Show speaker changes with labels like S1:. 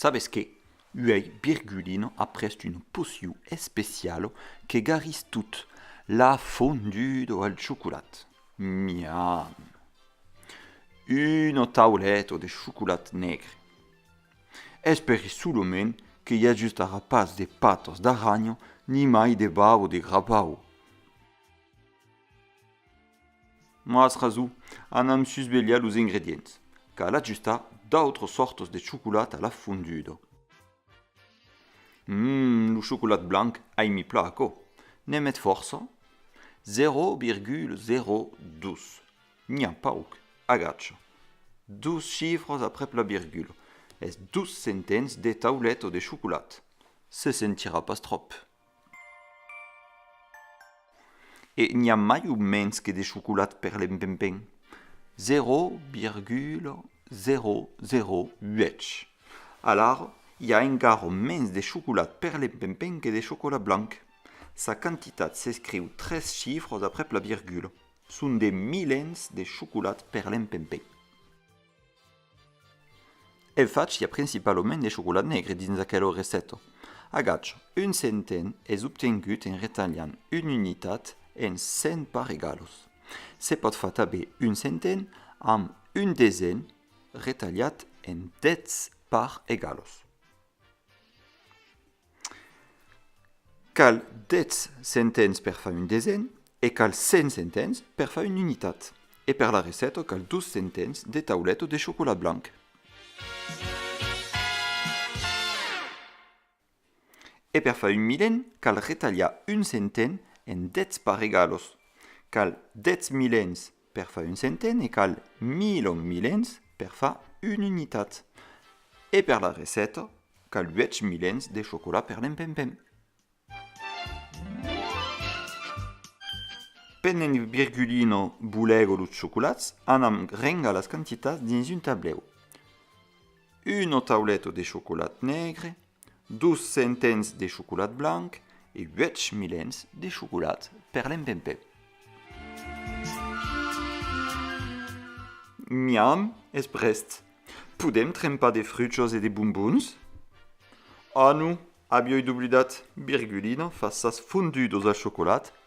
S1: Sabes que? Uèi Birgulino a prest un pocio especialo que garris tot l'ha fondudo al chocolat. Miam! Uno tauleto de chocolat negre. Es per isso lo men que i ajustarà pas de patas d'arranha nimai de bau de grapau. Mas raso, anam susvelhar los ingredients. Cal ajustar d'autras sòrtas de chocolat a la fonduda. Umm, lo chocolat blanc ai mi pla aquò. Ne met fòrça? 0,02. N'i a pauc. Agacha. Dos chifras aprèp la virgula. Es dos centens de taulet o de chocolat. Se sentirà pas tròp. E n'i a mai o mens que de chocolat per l'empempen. Zero virgula zero zero uèch. Alara, i a encara mens de chocolat per l'empempen que de chocolat blanc. Sa quantitat s'escriu tres chifras aprèp la virgula. Son de milens de chocolat per l'empempèi. El fach i a principalament de chocolat negre dins aquela receta. Agach un centen es obtengut en retalhant una unitat en 100 pas egalos. Se pòt far tanben un centen amb un desen retalhat en 10 pas egalos. Cal 10 centens per far un desen e cal 100 centens per far una unitat. E per la receta cal 2 centens de taulet o de chocolat blanc. E per far un milen cal retalhar un centen en 10 paregalos. Cal 10 milens Per far un centen e cal mil o milens per far una unitat. E per la receta cal uèch milens de chocolat per l'empempem. Pendent que Virgulino bolego los chocolats, anam rengar las quantitats dins un tablèu. Un o taulet de chocolat negre, Dos centens de chocolat blanc e uèch milens de chocolat per l'empempè. Miam, es prèst. Podèm trempar de fruchos e de bombons? Ah non, avioi doblidat, Virgulina fa sas fondudos al chocolat